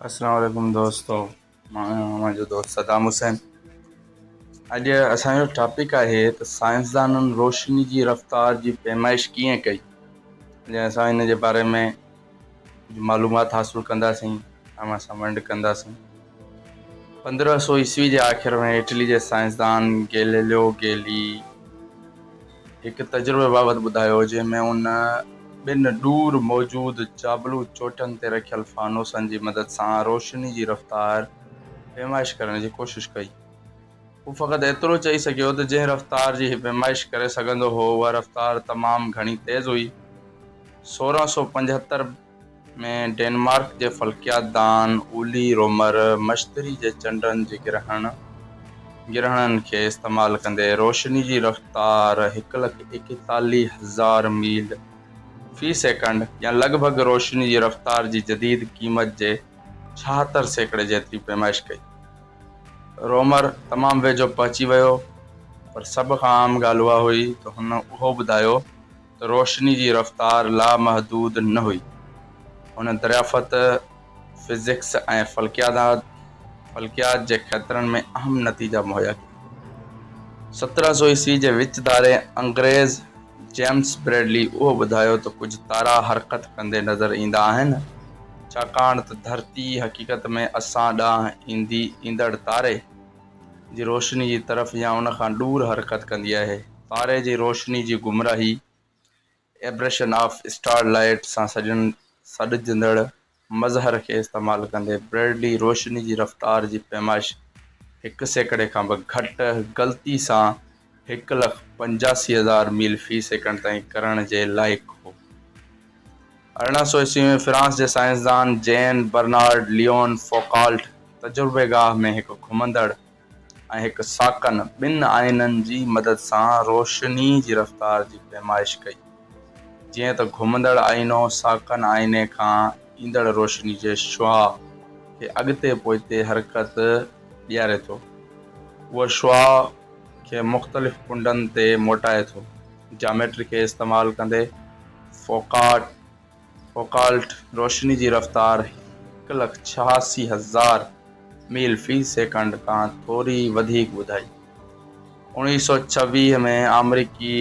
السلام عليڪم دوستو مان آهيان اوهان جو دوست صدام حسين اڄ اسان جو ٽاپڪ آهي ته سائنسدانن روشني جي رفتار جي پيمائش ڪيئن ڪئي جڏهن اسان ان جي باري ۾ معلومات حاصل ڪنداسين اوهان سان ونڊ ڪنداسين پندرهن سو عيسوي جي آخر ۾ اٽلي جي سائنسدان گيليليو گيلي هڪ تجربي بابت ٻڌايو جنهن ۾ هن ٻن ڏور موجود جابلو چوٽن تي رکيل فانوسن جي مدد سان روشني جي رفتار پيمائش ڪرڻ جي ڪوشش ڪئي. هو فقط ايترو چئي سگهيو ته جنهن رفتار جي هي پيمائش ڪري سگهندو هو اها رفتار تمام گهڻي تيز هئي، سورهن سو پنجهتر. ۾ ڊينمارڪ جي فلڪيات دان اولي رومر مشتري جي چنڊن جي گرهڻ، گرهڻن، کي استعمال ڪندي روشني جي رفتار هڪ لک ايڪيتاليهه هزار ميل في سيڪنڊ يا لڳ ڀڳ روشني جي رفتار جي جديد قيمت جي ڇاهتر سيڪڙي جيتري پيمائش ڪئي. رومر تمام ويجهو پهچي ويو پر سڀ کان اهم ڳالهه اها هئي ته هن اهو ٻڌايو، روشني جي رفتار لامحدود نه هئي. هن دريافت فزڪس ۽ فلڪياداد، فلڪيات، جي کيترن ۾ اهم نتيجا مهيا ڪيا. سترهن سو عيسوي جي وچ ڌاري انگريز جيمس بريڊلي اهو ٻڌايو ته ڪجهه تارا حرڪت ڪندي نظر ايندا آهن، ڇاڪاڻ ته ڌرتي حقيقت ۾ اسان ڏانهن ايندي ايندڙ تاري، جي روشني جي طرف يا ان کان ڏور حرڪت ڪندي آهي. تاري جي روشني جي گمراهي، Aberration of Starlight، سان سڏجندڙ مظهر کي استعمال ڪندي، بريڊلي روشني جي رفتار جي پيمائش هڪ سيڪڙي کان به گهٽ غلطي سان هڪ لک پنجاسي هزار ميل في سيڪنڊ تائين ڪرڻ جي لائق هو. ارڙهن سؤ عيسوي ۾ فرانس جي سائنسدان جين برنارڊ ليون فوڪالٽ تجربيگاهه ۾ هڪ گهمندڙ ۽ هڪ ساڪن ٻن آئينن جي مدد سان روشني جي رفتار جي پيمائش ڪئي جيئن ته گهمندڙ آئينو ساڪن آئيني کان ايندڙ روشني جي شعاع کي اڳتي پوئتي حرڪت ڏياري ٿو اهو شعاع کي مختلف ڪنڊن تي موٽائي ٿو. جاميٽري کي استعمال ڪندي فوڪالٽ روشني جي رفتار هڪ لک ڇهاسي هزار ميل في سيڪنڊ کان ٿوري وڌيڪ ٻڌائي. اوڻيهه سئو ڇويهه ۾ آمريڪي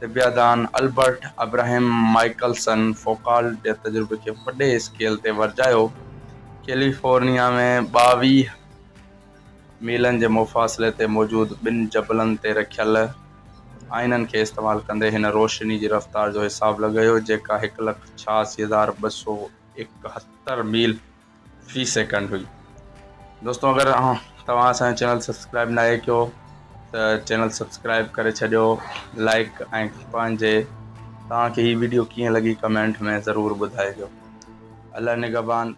طبعيادان البرٽ ابراهيم مائيڪلسن فوڪالٽ جي تجربي کي وڏي اسڪيل تي ورجايو. ڪيليفورنيا ۾ ٻاويهه. ميلن جي مفاصلي تي موجود ٻن جبلن تي رکيل آئينن کي استعمال ڪندي هن روشني جي رفتار جو حساب لڳايو جيڪا هڪ لک ڇهاسي هزار ٻه سؤ ايڪهتر ميل في سيڪنڊ هئي دوستو اگر توهان اسان جو چينل سبسڪرائب ناهي ڪيو ته چينل سبسڪرائب ڪري ڇڏيو لائڪ ۽ پنهنجي توهان کي هي ويڊيو ڪيئن لڳي ڪمينٽ ۾ ضرور ٻڌائجو الله نگهبان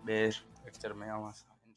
ٻي ليڪچر ۾ اوهان سان